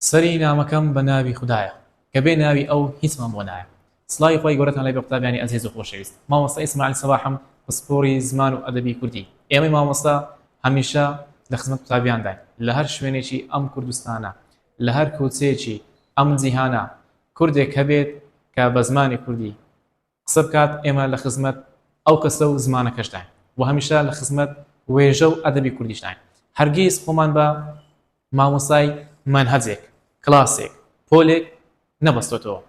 سەری نامەکەم بە ناوی خودایە کە بێ ناوی ئەو هیچمان بۆ نایە. سڵاوی خوای گەورەتان لێ بێ قوتابیانی ئەزیز و خۆشەویست. مامۆستا ئیسماعیل سەباحم پسپۆری زمان و ئەدەبی کوردی. ئێمەی مامۆستا هەمیشە لە خزمەت قوتابیانداین. لە هەر شوێنێکی ئەم کوردستانە، لە هەر کوچەیەکی ئەم جیهانە کوردێک هەبێت کە بە زمانی کوردی قسە بکات ئێمە لە خزمەت ئەو کەسە و زمانەکەشداین و هەمیشە لە خزمەت وێژە و ئەدەبی کوردیشداین هەرگیز خۆمان بە مامۆستای مەنهەجێک، کلاسێک، پۆلێک نەبەستۆتەوە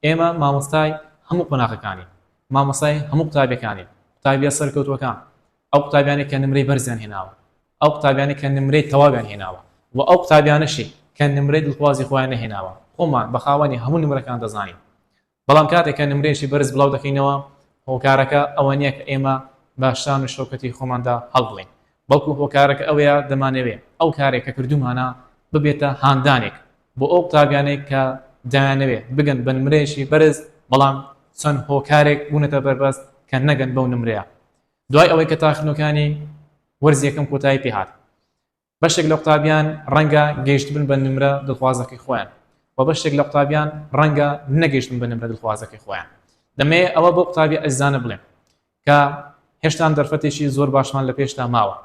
ئێمە مامۆستای هەموو قۆناغەکانین مامۆستای هەموو قوتابیەکانین قوتابیە سەرکەوتوەکان ئەو قوتابیانەی کە نمرەی بەرزیان هێناوە ئەو قوتابیانەی کە نمرەی تەواویان هێناوە و ئەو قوتابیانەشی کە نمرەی دڵخوازی خۆیان نەهێناوە خۆمان بە خاوەنی هەموو نمرەکان دەزانین بەڵام کاتێک کە نمرەیەکی بەرز بڵاو دەکەینەوە، هۆکارەکە ئەوە نییە کە ئێمە بە شان و شەوکەتی خۆماندا هەڵبڵێین، بەڵکو هۆکارەکە ئەوەیە دەمانەوێ ئەو کارەی کە کردوومانە ببێتە هاندانێک بۆ ئەو قوتابیانەی کە دەیانەوێ بگەن بە نمرەیەکی بەرز، بەڵام چەند هۆکارێک بوونەتە بەربەست کە نەگەن بەو نمرەیە دوای ئەوەی کە تاقیکردنەوەکانی وەرزی یەکەم کۆتایی پێهات. بەشێک لە قوتابیان ڕەنگە گەیشتبن بە نمرە دڵخوازەکەی خۆیان و بەشێک لە قوتابیان ڕەنگە نەگەیشتن بە نمرە دڵخوازەکەی خۆیان دەمەیە ئەوە بۆ قوتابی ئەزانە بڵێن کە هێشتان دەرفەتێکی زۆر باشمان لە پێشتا ماوە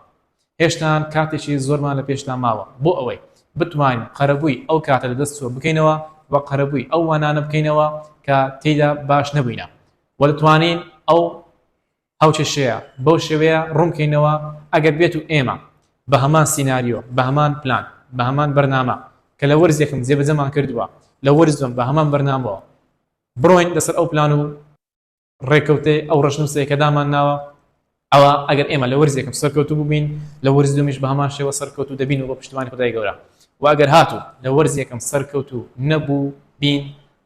هێشتان کاتێکی زۆرمان لە پێشتا ماوە بۆ ئەوەی بتوانین قەرەبووی ئەو کاتە لە دەست چوە بکەینەوە و قەرەبووی ئەو وانانە بکەینەوە کە تێدا باش نەبووینە وە دەتوانین ئەو هاوکێشەیە بەو شێوەیە ڕوونبکەینەوە ئەگەر بێتو ئێمە بە هەمان سیناریۆ بە هەمان پلان بە هەمان بەرنامە کە لە وەرزێکم جێبەجەمان کردوە لە وەرز دوەم بە هەمان بەرنامەوە بڕۆین لەسەر ئەو پلان و ڕێکەوتەی ئەو ڕەشنوسەی کە دامانناوە ئەوا ئەگەر ئێمە لە وەرزێکم سەرکەوتو بوبین لە وەرز دومیش بە هەمان شێوە سەرکەوتو دەبین و بە پشتیوانی خودای گەورە وە ئەگەر هاتو لە وەرزێکم سەرکەوتو نەبو بین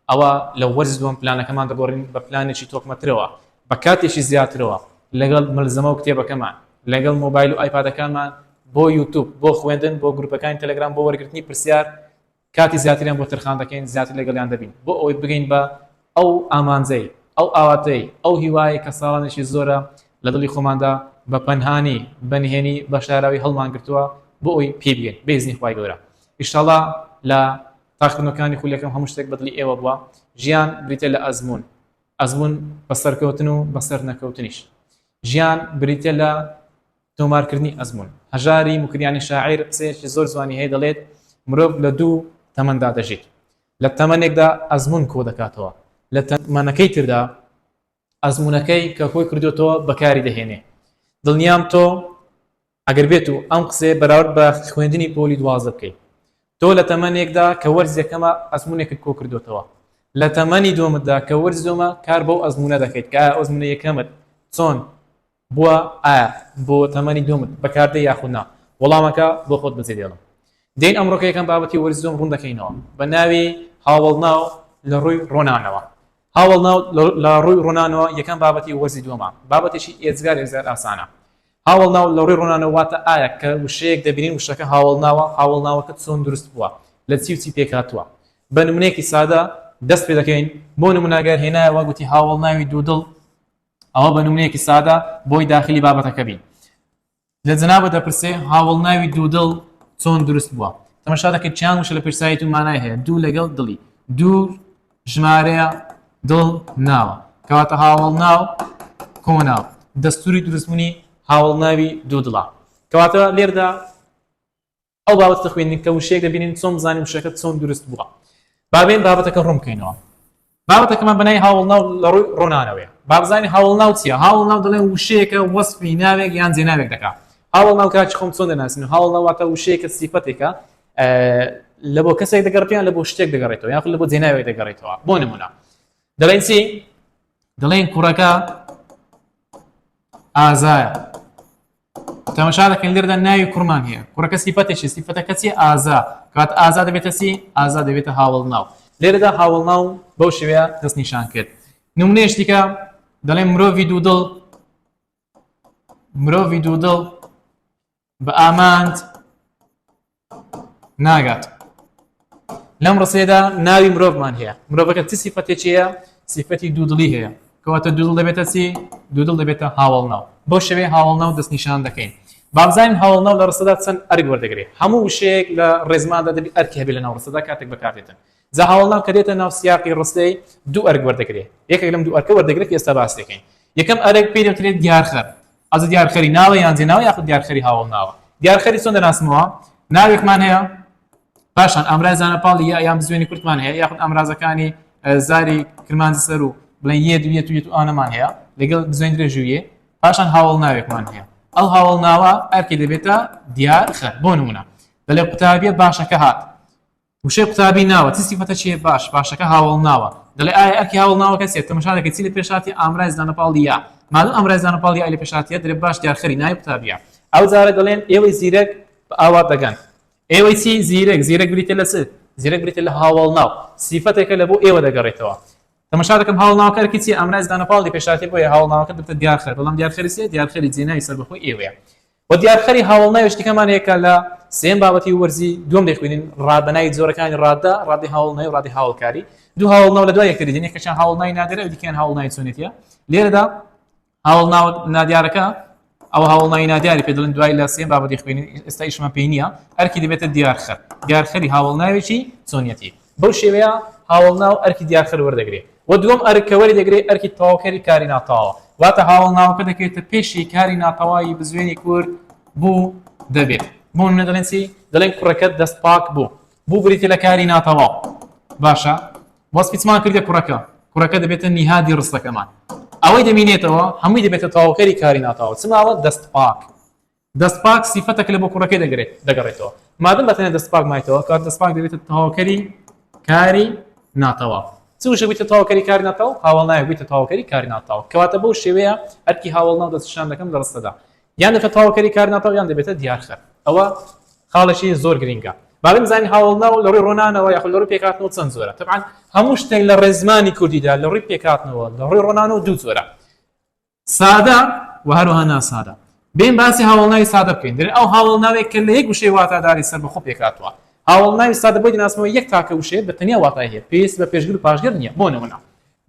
ئەوا لە وەرزی دووەم پلانەکەمان دەگۆڕین بە پلانێکی تۆکمەترەوە، بە کاتێکی زیاترەوە لەگەڵ مەلزەمە و کتێبەکەمان، لەگەڵ مۆبایل و ئایپادەکانمان، بۆ یوتوب، بۆ خوێندن، بۆ گروپەکانی تەلەگرام، بۆ وەرگرتنی پرسیار کاتی زیاتریان بۆ تەرخان دەکەین، زیاتر لەگەڵیان دەبین بۆ ئەوەی بگەین بە ئەو ئامانجەی، ئەو ئاواتەی، ئەو هیوایەی کە ساڵانێکی زۆرە لە دڵی خۆماندا بە پەنهانی، بە نهێنی، بە شاراوی هەڵمانگرتووە بۆ ئەوەی پێی بگەین بە ئیزنی خوای گەورە ئیشاڵا لە. تاقیکردنەوەکانی خولی یەکەم هەموو شتێک بەدڵی ئێوە بووە، ژیان بریتیە لە ئەزموون، ئەزموون بە سەرکەوتن و بە سەرنەکەوتنیش، ژیان بریتیە لە تۆمارکردنی ئەزموون، هەژاری موکریانی شاعیر قسەیەکی زۆر جوانی هەیە دەڵێت، مرۆڤ لە دوو تەمەندا دەژیت، لە تەمەنێکدا ئەزموون کۆدەکاتەوە، لە تەمەنەکەی تردا ئەزموونەکەی کە کۆی کردۆتەوە بەکاری دەهێنێ، دڵنیام تۆ ئەگەر بێتو ئەم قسەیە بەراورد بە خوێندنی پۆلی دوازدە بکەی، تۆ لە تەمەنێکدا کە وەرز یەکەمە ئەزمونێکت کۆ کردۆتەوە، لە تەمەنی دوەمتدا کە وەرز دوەمە کار بەو ئەزمونە دەکەیت کە ئایا ئەزمونە یەکەمت چۆن بوە ئایا بۆ تەمەنی دوەمت بەکار دێی یاخود نا وەڵامەکە بۆ خۆت بەجێ دێڵە. دێین ئەمڕۆکە یەکەم بابەتی وەرزی دوەم ڕون دەکەینەوە بە ناوی هاوەڵناو لە ڕوی ڕۆنانەوە. هاوەڵناو لە ڕوی ڕۆنانەوە یەکەم بابەتی وەرزی دوەمە، بابەتێکی ئێجگار ئێجگار ئاسانە هاوەڵناو، لە ڕووی ڕۆنانەوە واتە ئایا کە وشەیەک دەبینین وشەکە هاوەڵناوە، هاوەڵناوەکە چۆن دروست بووە، لە چی و چی پێک هاتووە. بە نموونەیەکی سادە دەست پێ دەکەین، بۆ نموونە گەر هێنایەوە گوتی هاوەڵناوی دوودڵ ئەوە بە نموونەیەکی سادە بۆی داخلی بابەتەکە بین. لە جەنابت دەپرسێ هاوەڵناوی دوودڵ چۆن دروست بووە؟ تەمەشا دەکەی چیان وشە لە پێشسایەتی و مانای هەیە، دوو لەگەڵ دڵی، دوو ژمارەیە دڵ ناوە کەواتە هاوڵ ناو کۆناو دەستوری دروستبوونی هاوڵ ناوی دوو دڵە کەواتە لێردا ئەو باوەت کە خوێندن کە وشەیەک دەبینین چۆن بزانین وشەکە چۆن دروست بووە بابێن بابەتەکە ڕوون بکەینەوە بابەتەکەمان بەنای هاوڵ ناو لە ڕووی ڕۆنانەوەی بابزانانی هاوڵ ناو چیە هاوڵ ناو دەڵێن وشەیەکە وەسفی ناوێک یان جێناوێک دەکات هاوڵ ناو کاچ خۆم چۆن دەناسین هاوڵ ناواتە وشەیەکە سیفەتێکە لە بۆ کەسێک دەگەڕێتیان لە بۆ شتێک دەگەڕێتەوە یاخود لە بۆ جێناوێک دەگەڕێتەوە بۆ نمونە دەڵێن چی دەڵێن کوڕەکە ئازایە تەمەشا دەکەن لێردا ناوی کوڕمان هەیە کوڕەکە سیفەتێکی سیفەتەکە چی ئازا کات ئازا دەبێتە سی ئازا دەبێتە هاوڵ ناو لێرەدا هاوڵ ناو بەو شێوەیە دەست نیشان کرد نمونێش دیکە دەڵێن مرۆڤی دوودڵ مرۆڤی دوودڵ بە ئامانج ناگات لەم ڕسێدا ناوی مرۆڤمان هەیە مرۆڤەکە چ سیفەتێکیە سیفەتی دوودڵی هەیە کەواتە دوودڵ دەبێتە چی دوودڵ دەبێتە هاوڵ ناو بۆ شەوێ هاوڵ ناو دەست نیشان دەکەین بابزانین هاوڵ ناو لە ڕسەدا چەند ئەرگ وەردەگرێت هەموو وشەیەک لە ڕێزماندا دەبی ئەرکی هەبێت لە ناو ڕسەدا کاتێک بەکاتێتن جا هاوڵ ناو کە دێتە ناو سیاقی ڕستەی دوو ئەرگ وەردەگرێت یەکێک لەم دوو ئەرکە وەردەگرێت ئێستا باس دەکەین یەکەم ئەرێک پێی دەوترێت دیارخەر ئەزە دیارخەری ناوە یان جێناوە یاخود دیارخەری هاوڵ ناوە دیارخەری چۆن دەناسمەوە ناوێکمان هەیە پاشان ئامرای زانە پاڵی یا یان بزوێنی کورتمان هەیە یاخود ئامرازەکانی زاری کرمان سەر و بڵێ یە دوێت و یەت و ئانەمان هەیە لەگەڵ بزوێن درێژویە پاشان هاوڵ ناوێکمان هەیە ئەو هاوڵ ناوە ئەرکی دەبێتە دیارخەر بۆ نمونە دەلێ قوتابیە باشەکە هات وشەی قوتابی ناوە چ سیفەتە چیە باش باشەکە هاوەڵناوە دەڵێ ئایا ئەرکی هاوەڵناوە کە چیە تەمەشا دەکەی چی لە پێش هاتیە ئامرای زمانە پاڵ یا مادەم ئامرای زمانە پاڵ یای لە پێش هاتیە دەلێ باش دیارخەری ناوی قوتابیە ئەو جارە دەڵێن ئێوەی زیرەک بە ئاوات دەگەن ئێوەی چی زیرەک زیرەک بریتە لە چ زیرەک بریتە لە هاوەڵناو سیفەتێکە لە بۆ ئێوە دەگەڕێتەوە تەمەشا دەکەم هاوڵناوەکە ئەرکی چیە ئامرای زمانە پاڵ لە پێش هاتیە بۆیە هاوڵناوەکە بریتە دیارخەر بەڵام دیارخەری چیە دیارخەری جێناوی سەربەخۆی ئێوەیە وە دیارخەری هاوەڵناویش تکامان هەیە کە لە سێیەم بابەتی وەرزی دووەم دەیخوینین ڕا بە ناوی جۆرەکانی ڕاددا، ڕادەی هاوەڵناوی و ڕادەی هاوەڵکاری. دوو هاوەڵناو لە دوای یەکتری دێن یەکێکیان هاوەڵناوی نادیارە ئەوی دیکەیان هاوەڵناوی چۆنێتییە. لێرەدا هاوەڵناوە نادیارەکە ئەو هاوەڵناوی نادیاری پێ دەڵێن دوای لە سێیەم بابەتی خوێنین ئێستا ئیشمان پێی نییە ئەرکی دەبێتە دیارخەر دیارخەری هاوەڵناوێکی چۆنیەتی. بەو شێوەیە هاوەڵناو ئەرکی دیارخەر وەردەگرێ و دووەم ئەرک کە وەریدەگرێ ئەرکی تەواوکەری کاری ناتەواوە. واتە هاوەڵناوەکە دەکەوێتە پێشی کاری ناتەواوی بزوێنی کورد بوو دەبێت. بۆ نموونە دەڵێن چی؟ دەڵێن کوڕەکەت دەست پاک بوو. بوو بریتییە لە کاری ناتەواو. باشە وەسفی چمان کردە کوڕەکە؟ کوڕەکە دەبێتە نیهادی ڕستەکەمان. ئەوەی دەمینێتەوە هەمووی دەبێتە تەواوکەری کاری ناتەواو. چ ماوە؟ دەست پاک. دەستپاک سیفەتەکە لە بۆ کوڕەکەی دەگەڕێتەوە، مادەم بە تەنیا دەستپاک مایتەوە، کەواتە دەستپاک دەبێتە تەواوکەری کاری ناتەواو. چ وشەیەک بێتە تەواوکەری کاری ناتەواو؟ هاوەڵناوێک بێتە تەواوکەری کاری ناتەواو. کەواتە بەو شێوەیە ئەرکی هاوەڵناو دەستنیشان دەکەم لە ڕستەدا. یان دەبێتە تەواوکەری کاری ناتەواو یان دەبێتە دیارخەر. ئەوە خاڵێکی زۆر گرینگە. با بزانین هاوەڵناو لە ڕووی ڕۆنانەوە یاخود لە ڕووی پێکهاتنەوە چەند جۆرە. تەبعەن هەموو شتێک لە ڕێزمانی کوردیدا لە ڕووی پێکهاتنەوە لە ڕووی ڕۆنانەوە دوو جۆرە. سادە و هەروەها ناسادە. بێن باسی هاوەڵناوی سادە بکەین. دەرێن ئەو هاوەڵناوەی کە لە یەک وشەی واتاداری سەربەخۆ پێکهاتووە. هاوەڵناوی سادە بۆی دەناسمەوە یەک تاکە وشەیە بە تەنیا واتای هەیە، پێویستی بە پێشگر و پاشگر نییە. بۆ نموونە.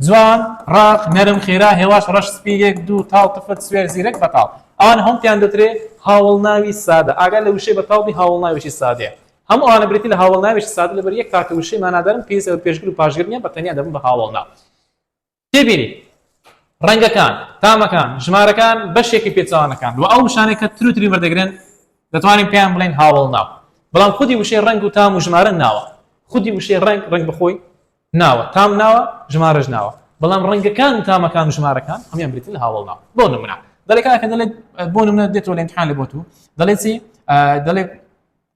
جوان، ڕاق، نەرم، خێرا، هێواش، ڕەش، سپی، یەک، دوو، تاڵ، تفر، سوێر، زیرەک، بەتاڵ. ئەوانە هەموو پێیان دەوترێ هاوەڵناوی سادە. ئاگا لە وشەی بەتاڵ بی هاوەڵناوێکی سادەیە. هەموو ئەوانە بریتین لە هاوەڵناوێکی سادە لەبەر یەک تاکە وشەی مانادارن پێویستیان بە پێشگر و پاشگر نییە بە تەنیا دەبن بە هاوەڵناو. تێبینی، ڕەنگەکان، تامەکان، ژمارەکان بەشێکی پێچەوانەکان و ئەو وشانەی کە تر و تری وەردەگرن دەتوانین پێیان بڵێین هاوەڵناو. بەڵام خودی وشەی ڕەنگ و تام و ژمارە ناوە. خودی وشەی ڕەنگ، ڕەنگ بەخۆی ناوە، تام ناوە، ژمارەش ناوە. بەڵام ڕەنگەکان و تامەکان و ژمارەکان هەموویان بریتین لە هاوەڵناو. بۆ نموونە، دەڵێ کاکە دەڵێ بۆ نموونە دێتەوە لە ئیمتیحان لە بۆ تو دەڵێ چی؟ دەڵێ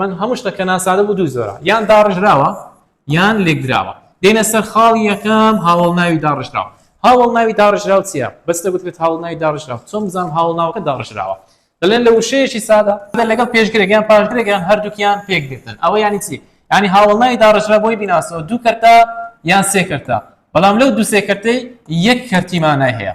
من هەموو شتە کە ناسادە بوو دوو زۆرە یان داڕژراوە یان لێکدراوە دێنە سەر خاڵی یەکەم هاوڵ ناوی داڕژراوە هاوڵ ناوی داڕژراو چیە بەستە گوترێت هاوڵ ناوی داڕژراو چۆن بزانم هاوڵ ناوەکە داڕژراوە دەڵێن لە وشەیەکی سادە لەگەڵ پێشگرێکیان پاشگرێکیان هەردووکیان پێک دێتن ئەوە ینی چی ینی هاوڵ ناوی داڕژرا بۆی بیناسەوە دوو کەرتە یان سێ کەرتە بەڵام لەو دوو سێ کەرتەی یەک کەرتیمانای هەیە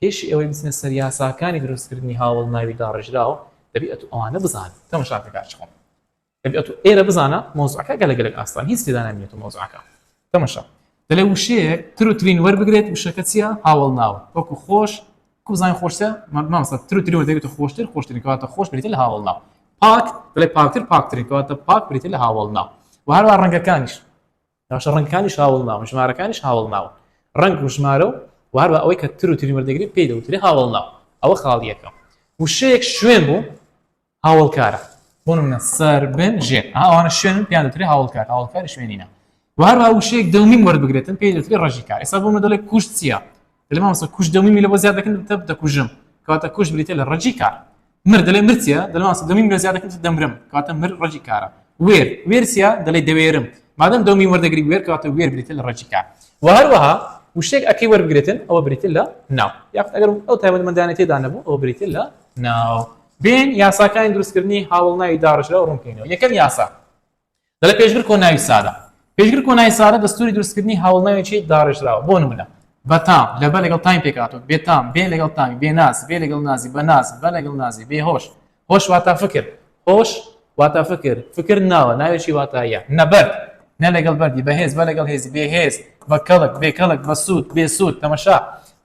پێش ئەوەی بچنە سەر یاساکانی دروستکردنی هاوەڵناوی داڕێژراو دەبیئت ئەوانە بزانن تەمەشاکەکە چۆنە دەبیئت ئێرە بزانە مەوزوعەکە گەلە گەلەک ئاسان هیچ تێدا نامینێتەوە مەوزوعەکە تەمەشا دەلێ وشەیەک تر و ترین وەربگرێت وشەکە چییە هاوەڵناو وەکو خۆش کوزانین خۆشتە مامسە تر و تری وەردەگرێت خۆشتر خۆشترین کەواتە خۆش بریتە لە هاوەڵناو پاک دەڵێ پاکتر پاکترین کەواتە پاک بریتە لە هاوەڵناو و هەروە ڕەنگەکانیش باشە ڕەنگەکانیش هاوڵناون ژمارەکانیش هاوڵناون ڕەنگ و ژمارە و وهر بە ئەوەی کە تر و تری وەردەگری پێی دەوتری هاوڵناو ئەوە خاڵ یەکەم وشەیەک شوێن بوو هاوڵکارە بۆ نمونە سەر بن ژێر ئەوانە شوێن پێیان دەوتری هاوڵکار هاوڵکاری شوێنینە وهروە وشەیەک دەومین وەربگرێتن پێی دەوتری ڕژی کار ئێستا بۆ مەدەڵێک کوشت چییە دەلێ مامۆستا کوش دەمی میلە بۆ زیاد دەکەن دەبتە دەکوژم کەواتە کوش بریتە لە ڕەجی کار مر دەلێ مرچیە دەلێ مامۆستا دەمی میلە زیاد دەکەن دەمرم کەواتە مر ڕەجی کارە وێر وێرسیە دەلێ دەوێرم مادەم دەمی وەردەگری وێر کەواتە وێر بریتە لە ڕەجی کار و هەروەها وشتێک ئەکەی وەربگرێتن ئەوە بریتە لە ناو یاخود ئەگەر ئەو تایبەتمەندانە تێدا نەبوو ئەوە بریتە لە ناو بێن یاساکانی دروستکردنی هاوڵ ناوی داڕژرا ڕوونکەینەوە یەکەم یاسا دەڵێ پێشگر کۆناوی سارە پێشگر کۆناوی سارە دەستوری دروستکردنی هاوڵناوێکی داڕێژراوە بۆ نمونە بەتام لەبە لەگەڵ تایم پێکاتۆ بێتام بێ لەگەڵ تامی بێ ناز بێ لەگەڵ نازی بە ناز بە لەگەڵ نازی بێ هۆش هۆش واتا فکر هۆش واتا فکر فکر ناوە ناوێکی واتایە نەبەر نە لەگەڵ بەردی بەهێز بە لەگەڵ هێزی بێهێز بە کەڵک بێ کەڵک بە سوود بێ سوود تەمەشا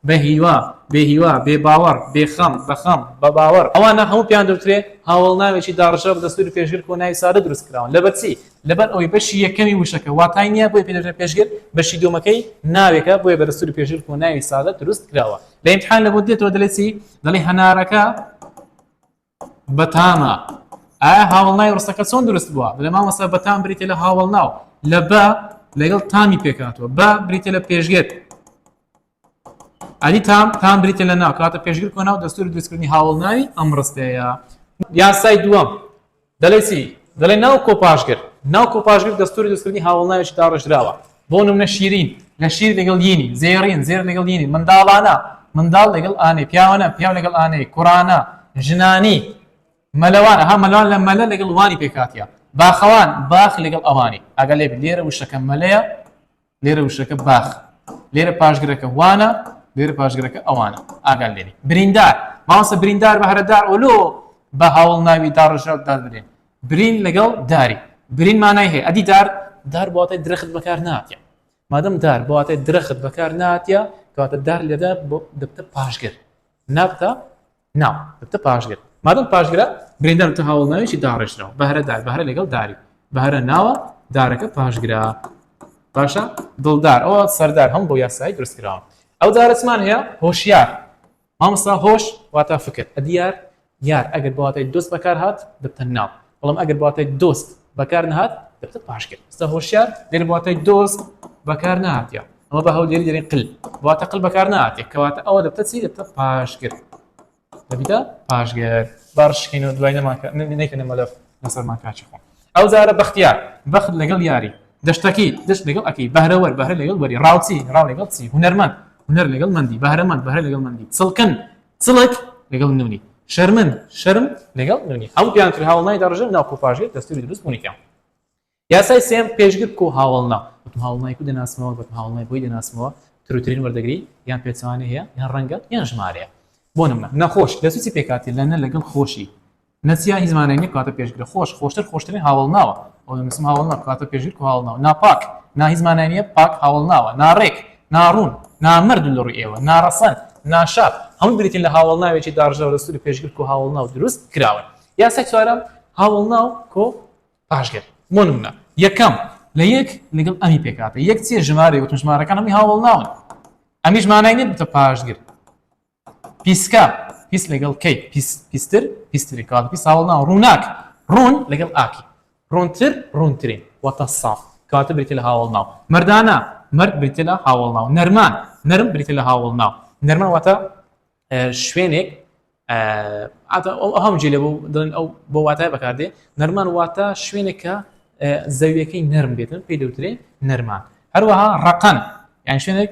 بە هیوا، بێ هیوا، بێ باوەڕ، بێ خەم، بە خەم، بە باوەڕ، ئەوانە هەموو پێیان دەوترێ هاوەڵناوێکی داڕشاو بە دەستووری پێشگر کۆنایی سادە دروست کراون، لەبەر چی؟ لەبەر ئەوەی بەشی یەکەمی وشەکە واتای نییە بۆیە پێی دەوترێ پێشگر، بەشی دووەمەکەی ناوێکە بۆیە بە دەستووری پێشگر کۆناوی سادە دروست کراوە. لە ئیمتحان لە بۆت دێتەوە دەلێ چی؟ دەلێ هەنارەکە، بەتامە ئایا هاوڵنای ڕستەکە چۆن دروست بووە لە مامەسە بەتام بریتە لە هاوڵناو لە بە لەگەڵ تامی پێکاتوە بە بریتە لە پێشگێت ئەلی تام تام بریتە لە ناو کاتە پێشگر کۆ ناو دەستور دروستکردنی هاوڵناوی ئەم ڕستەیە یاسای دووەم دەڵێسی دەڵێ ناو کۆپاشگر ناو کۆپاشگر دەستوری دەستکردنی هاوڵناویش داڕژراوە بۆ نمونە شیرین لە شیر لەگەڵ یینی، زێڕین زێر لەگەڵ یینی، منداڵانە منداڵ لەگەڵ ئانەی، پیاوانە پیاو لەگەڵ ئانەی، کوڕانە ژنانی، مەلەوان ها مەلەوان لە مەلە لەگەڵ وانی پێکهاتە، باخەوان باخ لەگەڵ ئەوانی، ئاگا لێ بێ لێرە وشەکە مەلەیە لێرە وشەکە باخ لێرە پاشگرەکە وانە لێرە پاشگرەکە ئەوانە ئاگال لێنی بریندار ماوەسە بریندار بە هەرەدار ئۆلۆ بە هاوڵ ناوی داڕژاو دادرێن برین لەگەڵ داری برین مانای هەیە ئەدی دار دار بواتای درەخت بەکار ناتە مادەم دار بواتای درەخت بەکار ناتە کاتە دار لێدا دەبتە پاشگر نابتە ناو دەبتە پاشگر مادەم پاشگرە برێندار تە هاوڵ ناوێکی داڕێژراوە بەهرە دار بەهرە لەگەڵ داری بەهرە ناوە دارەکە پاشگرە باشە دڵدار ئەوە سەردار هەم بۆ یاسایی درستکراوە ئەو دارەسمان هەیە هۆشیار مامۆستا هۆش واتا فکر ئەدیار یار ئەگەر بە واتای دۆست بەکار هات دەبتە ناو بەڵام ئەگەر بە واتای دۆست بەکار نەهات دەبتە پاشگر. مامۆستا هۆشیار لێرە بە واتای دۆست بەکار نەهاتیە ئەمە بە هەولێری دەرێن قل بە واتای قل بەکار نەهاتیە کەواتە ئەوە دەبتە چی دەبتە پاشگر دەبیتە پاشگر. با ڕشکەینەوە دوای نەمان کە نەیکەنە مەلەف لەسەرمان کاکی خۆم. ئەو جارە بەختیار، بەخت لەگەڵ یاری، دەشتەکی، دەشت لەگەڵ ئەکی، بەهرەوەر، بەهرە لەگەڵ وەری، ڕاوچی، ڕاو لەگەڵ چی، هونەرمەند، هونەر لەگەڵ مەندی، بەهرەمەند، بەهرە لەگەڵ مەندی، چڵکن، چڵک لەگەڵ نوونی، شەرمن، شەرم لەگەڵ نوونی. هەموو پێیانکرێ هاوەڵناوی دەڕژێ ناو کوپاژێر دەستووری دروست بوونێکیان. یاسای سێیەم، پێشگر کو هاوەڵناو، بەتۆ هاوەڵناوی کو دەناسمەوە، بەتۆ هاوەڵناوی بۆی دەناسمەوە، تروترین وەردەگری، یان پێچەوانەی هەیە، یان ڕەنگە، یان ژمارەیە. بۆ نموونە، نەخۆش، دەسووچی پێکهاتەیە لە نە لەگەڵ خۆشی، نەسیان هی زمانێک نیە کەواتە پێشگرە خۆش خۆشتر خۆشترین هاوەڵناوە ئەو دەنووسم هاوەڵناو کەواتە پێشگر و هاوەڵناو ناپاک نا هی زمانە نیە پاک هاوەڵناوە ناڕێک ناڕوون نامەرد لە ڕووی ئێوە ناڕەسەن ناشاپ هەمووی بریتین لە هاوەڵناوێکی داڕژاو لە سووری پێشگر و هاوەڵناو دروست کراون یاسای چوارەم هاوەڵناو کۆ پاشگر بۆ نمونە یەکەم لە یەک لەگەڵ ئەمی پێکهاتە یەک چیە ژمارە وتم ژمارەکان هەمووی هاوەڵناون ئەمیش مانای نیە بتە پاشگر پیسکە، پیس لەگەڵ کەی، پیس، پیستر، پیسترین، کەواتە پیس هاوەڵ ناوە، ڕووناک، ڕوون لەگەڵ ئاکی، ڕوونتر، ڕوونترین، واتە ساف، کەواتە بریتییە لە هاوەڵ ناو، مەردانە، مەرد بریتییە لە هاوەڵ ناو، نەرمان، نەرم بریتییە لە هاوەڵ ناو، نەرمان واتە شوێنێک، ئەتە ئەو ئەهەم جێ لێ بۆ دەڵێن ئەو بۆ واتای بەکاردێ، نەرمان واتە شوێنێک کە زەویەکەی نەرم بێتن پێی دەوترێ نەرمان، هەروەها ڕەقەن یان شوێنێک،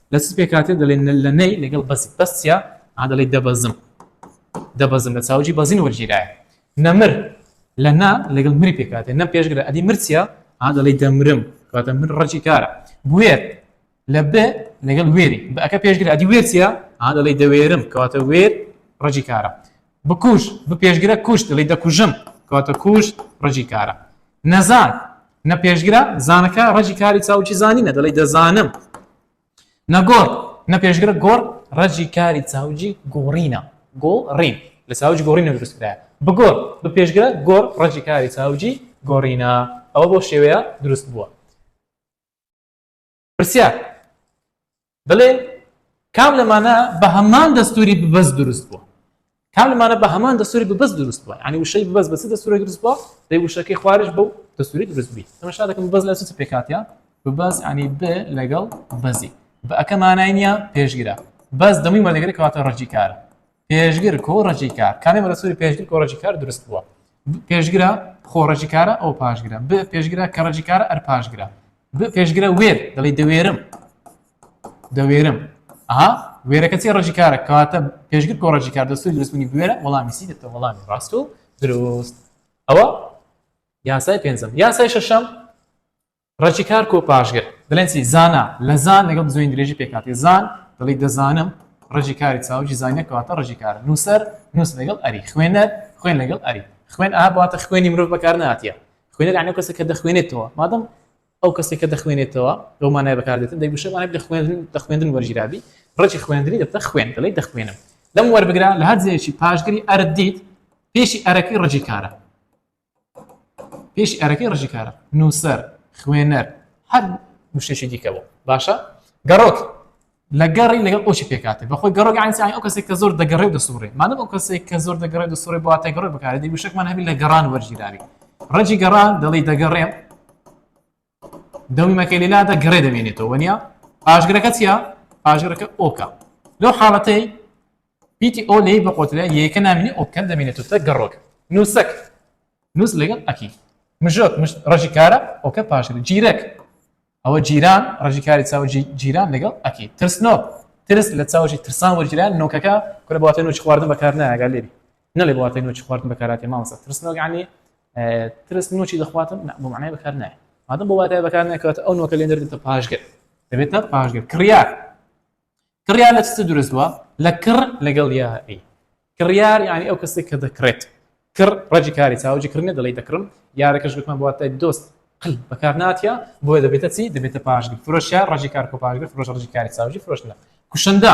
لە چ پێکاتێ دەڵێن لە نەی لەگەڵ بەزی بەس چیا ئا دەڵێ دەبەزم دەبەزم لە چاوجی بەزین وەرگیرایە نەمر لە نا لەگەڵ مری پێکاتێ نە پێشگرە ئەدی مرچە ئا دەڵێ دەمرم کاتە من ڕەجی کارە بێر لە بێ لەگەڵ وێری بەکە پێشگرە ئەدی وێرچە ئا دەڵێ دەوێرم کاتە وێر ڕەجی کارە بکوژ بپێشگرە کوشت دەڵی دەکوژم کەواتە کوشت ڕەجی کارە نەزان نە پێشگرە زانەکە ڕەجی کاری چاوکی زانینە دەڵی دەزانم نەگۆڕ نە پێشگرە گۆڕ ڕەجی کاری چاوجی گۆڕینە گۆ ڕین لە چاوج گۆڕینە دروستکرا بگۆڕ بە پێشگرە گۆڕ ڕەجی کاری چاوجی گۆڕینە ئەوە بۆ شێوەیە دروست بووە پرسیار بڵێ کام لەمانە بە هەمان دەستوری ببەست دروست بووە کام لەمانە بە هەمان دەستوری ببەست دروست بووە ینی وشەی ببەس بەس دەستوری دروست بووە دەی وشەکەی خوارش بەو دەستوری دروست بی ئەمەشا دەکەم بەس لە چ پێکاتە ببەس ینی ب لەگەڵ بەزی بە ئەەکەمانای نیە پێشگیرە بەس دەموی مەلەگەری کەواتە ڕەجی کارە پێشگر کۆڕەجی کار کانێ بەرەسوری پێشگر کۆڕەجی کار دروست بووە پێشگرە خۆڕەجی کارە ئەو پاشگرە ب پێشگرە کەڕەجی کارە ئەر پاشگرە ب پێشگرە وێر دەڵی دەوێرم دەوێرم ئەها وێرەکە چی ڕژی کارە کاتە پێشگر کۆڕەجی کار دەستی دروستبوونی بوێرە وەڵامی سی دەتە وەڵامی ڕاست و دروست ئەوە یاسای پێنجم یاسای شەشەم ڕەچی کار کۆ پاشگر دەڵێن چی زانا لە زان لەگەڵ بزۆین درێژی پێکاتی زان دەڵی دەزانم ڕژی کاری چاوجی زانە کەواتە ڕژی کار نووسەر نووس لەگەڵ ئەری خوێنەر خوێن لەگەڵ ئەری خوێن ئاباتە خوێنی مرۆڤ بەکار ناتە خوێنەر ئەنە کەسە کە دەخوێنێتەوە مادەم ئەو کەسێک کە دەخوێنێتەوە لەو مانای بەکاردێتن دەگوشەوانە لە خوێندن دە خوێندن وەرگیرابی ڕێکی خوێندنی دەبتە خوێن دەڵی دەخوێنم لەم وەربگرا لە هەر جێکی پاشگری ئەردیت پێشی ئەرەکەی ڕجی کارە پێشی ئەرەکەی ڕژی کارە نووسەر خوێنەر هەر مشتێکی دیکە بوو باشە گەڕۆک لە گەڕی لەگەڵ ئۆشی پێکاتێ بەخۆی گەڕۆک ئەنسیان ئەو کەسێک کە زۆر دەگەڕێ دەسوڕێ مادەم ئەو کەسێک کە زۆر دەگەڕێ دەسوڕێ بواتە گەڕۆک بکارێت دی وشەکمان هەبی لە گەڕان وەرگیراوی ڕەجی گەڕان دەڵی دەگەڕێم دەمی مەکەی لەلادا گڕێ دەمێنێتەوە وەنیا پاشگرەکە چیە پاشگرەکە ئۆکە لەو حاڵەتەی پیتی ئۆ لەی بەقۆتلە یەکە نامینی ئۆکەن دەمێنێتەوە تە گەڕۆک نووسەک نووس لەگەڵ ئەکی مژۆک مشت ڕژی کارە ئۆکە پاشگر جیرەک ئەوە جیران ڕژی کاری چاوە جیران لەگەڵ ئەکی ترسنۆک ترس لە چاوەژی ترسان وەرگیران نۆکەکە کورە باتێن و چخواردن بەکار نایگە لێبی نەڵێ بە واتای نۆچی خواردن بەکاراتێ مامۆستا ترسنۆک یعنی ترس نۆچی دەخواتن بۆ معنای بەکار نایە مادەم بۆ واتای بەکار ناکات ئەو نۆکە لێ دەردێتە پاشگەر دەبێتە پاشگەر کڕیار کڕیار لە چ دروست بووە لە کڕ لەگەڵ یاری کڕیار یعنی ئەو کەسێک کە دەکڕێت کڕ ڕەجی کاری چاوجی کردنە دەڵی دەکڕم یارەکەش گوتمان بواتای دۆست قل بەکار ناتە بۆیە دەبێتە چی دەبێتە پاشگر فرۆشە ڕژی کار کۆ پاشگر فرۆش ڕژی کاری چاوجی فرۆشتنە کوشندە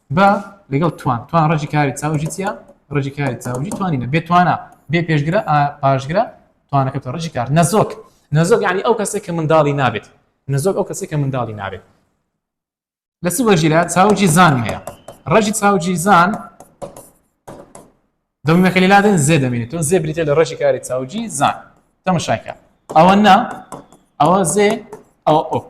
بە لەگەڵ توان توان ڕژی کاری چاوژی چیە ڕژی کاری چاوژی توانینە بێ توانە بێ پێشگرە پاشگرە توانەکە تۆ ڕژی کار نەزۆک نەزۆک ینی ئەو کەسێک کە منداڵی نابێت نەزۆک ئەو کەسێک کە منداڵی نابێت لە سو بەژیرە چاوجی زان هەیە ڕژی چاوجی زان دەمەکە لادن زێ دەمێنێت تۆ زێ بریتە لە ڕژی کاری چاوجی زان تەمەشاکە ئەوە نا ئەوە زێ ئەوە ئۆک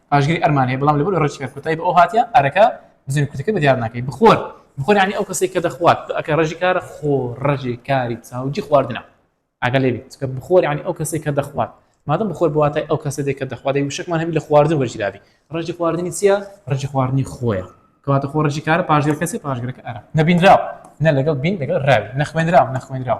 پاشگری ئەرمان هەیە بەڵام لەبەر ڕێچکە کۆتایی بە ئەو هاتیە ئەرەکە بزن کوتەکە بەدیار ناکەی بخۆر بخۆر یعنی ئەو کەسێک کە دەخوات ئەکە ڕژی کارە خۆ ڕژی کاری چاوجی خواردنە ئەگە لێ چکە بخۆر یعنی ئەو کەسێک کە دەخوات مادەم بخۆر بواتای ئەو کەسە دێکە دەخوات دەی وشکمان هەبی لە خواردن وەرجیرابی ڕژی خواردنی چییە ڕژی خواردنی خۆیە کەواتە خۆ ڕژی کارە پاشگەر کەسی پاشگرەکە ئەرە نەبینراو نە لەگەڵ بین لەگەڵ ڕاوی نەخوێنراو نەخوێنراو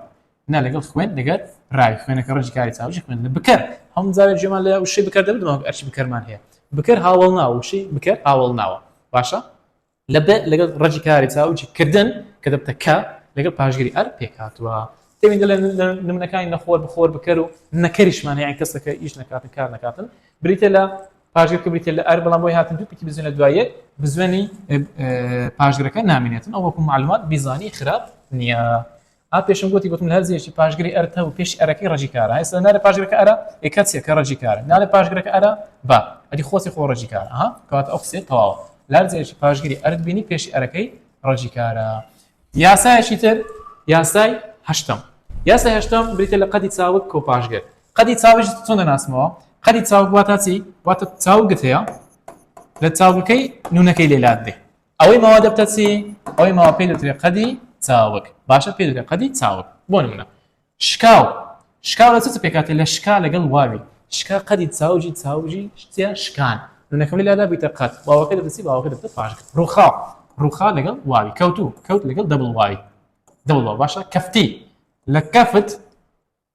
نا لەگەڵ خوێن لەگەر ڕاوی خوێنەکە ڕەنجی کاری چاوژی خوێن لە بکەر هەم زاوێ جێمان لە وشەی بکەر دەبدەوە ئەرچی بکەرمان هەیە بکەر هاوڵ ناوە وشەی بکەر هاوڵ ناوە باشە لە بێ لەگەڵ ڕەجی کاری چاوجی کردن کە دەبتە کە لەگەڵ پاشگیری ئەر پێکاتوە تێوین لە نمونەکانی نەخۆر بخۆر بکەر و نەکەریشمان یان کەسەکە ئیش نکاتن کار نکاتن بریتە لە پاشگر کە بریتە لە ئەر بەڵام بۆی هاتن دوو پکی بزنە دوایە بزوێنی پاشگرەکە نامێنێتن ئەو وەکو معلومات بیزانی خراپ نییە. ها پێشم گۆتی گۆتم لە هەر جێیەکی پاشگری ئەرت هەبوو پێشی ئەرەکەی ڕەجی کارە ئێستا نارە پاشگرەکە ئەرا ئێ کەچێ کە ڕەجی کارە نارە پاشگرەکە ئەرا با ئەدی خۆسی خۆ ڕەجی کارە ها کەواتە ئەو قسەیە تەواوە لە هەر جێیەکی پاشگری ئەرت بینی پێشی ئەرەکەی ڕەجی کارە یاسایەکی تر یاسای هەشتم یاسای هەشتم بریتە لە قەدی چاوک کۆ پاشگر قەدی چاویش چۆن دەناسمەوە قەدی چاوک واتە چی واتە چاوگت هەیە لە چاوگەکەی نونەکەی لێلات بێ ئەوەی ماوە دەبتە چی؟ ئەوەی ماوە پێی دەوترێت قەدی چاوگ باشە پێی دەوترێت قەدی چاوگ بۆ نمونە شکاو شکاو لە چ پێکاتێ لە شکا لەگەڵ واوی شکا قەدی چاوجی چاوژی شتیا شکان نونەکەم لا دابیتە قەت واوەکە دەبتە چی باوەکە دەبتە پاشک ڕوخاو ڕوخا لەگەڵ واوی کەوتو کەوت لەگەڵ دەبڵ وای دەوڵەوە باشە کەفتی لە کەفت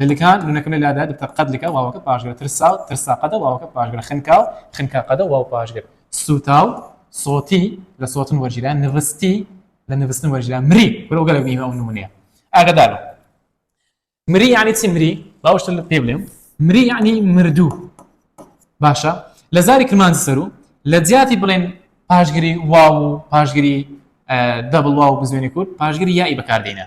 لکا نونەکە لە لادا دکتۆر قەد لکا واوەکە پاشگرە ترسا و ترسا قەدە واوەکە پاشگرە خنکا و خنکا قەدە واو پاشگر سووتا و سۆتی لە سۆتن وەرگیران نوستی لە نوستن وەرگیران مری برەو گەلە بیمە و نمونەیە ئاگدار مری یعنی چی مری باوشتە لە پێ بلێم مری یعنی مردوو باشە لە زاری کرمان سەرو لە جیاتی بڵێن پاشگری واو و پاشگری دەبڵ واو بزوێنی کورد پاشگری یائی بەکاردێنە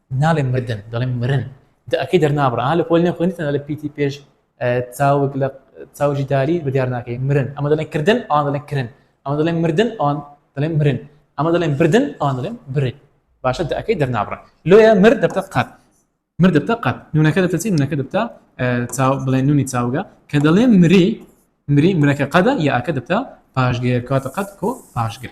ناڵێم مردن دەڵێم مرن دە ئەکەی دەرنابڕ ئا لە پۆل نێ خوێنی تەنە لە پیتی پێش چاوک لە چاوجی داری بە دیار ناکەی مرن ئەمە دەڵێن کردن ئەوان دەڵێن کرن ئەمە دەڵێن مردن ئەوان دەڵێن مرن ئەمە دەڵێن بردن ئەوان دەڵێن برن باشە دە ئەەکەی دەرنابڕە لۆیە مرد دەبتە قەت مرد دەبتە قەت نونەکە دەبتە چی نونەکە دەبتە چاو بڵێن نونی چاوگە کە دەڵێن مری مری مرەکە قەدە یاکە دەبتە پاشگەر کاتە قەت کۆ پاشگر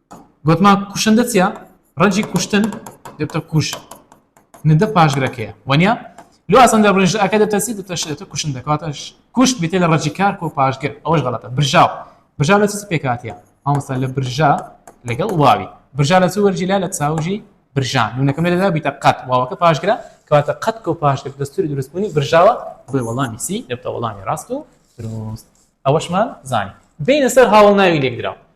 گوتمان کوشندە چیە ڕەنجی کوشتن دەبتە کوش ندە پاشگرەکەیە وەنیا لو ئاسان دەبرژ ئەکە دەتەسی دەتەشێتە کوشن دەکاتش کوشت بێتە لە ڕەجی کار کۆ پاشگر ئەوش غڵەتە برژاو برژا لە چی پێکاتە ئەوسا لە برژا لەگەڵ واوی برژا لە چ وەرجی لا لە چاوژی برژان نونەکەم لەدا بیتە قەت واوەکە پاشگرە کەواتە قەت کۆ پاشگر دەستوری دروستبوونی برژاوە بۆی وەڵامی سی دەبتە وەڵامی ڕاست و دروست ئەوەشمان زانی بینە سەر هاوڵ ناوی لێکدراوە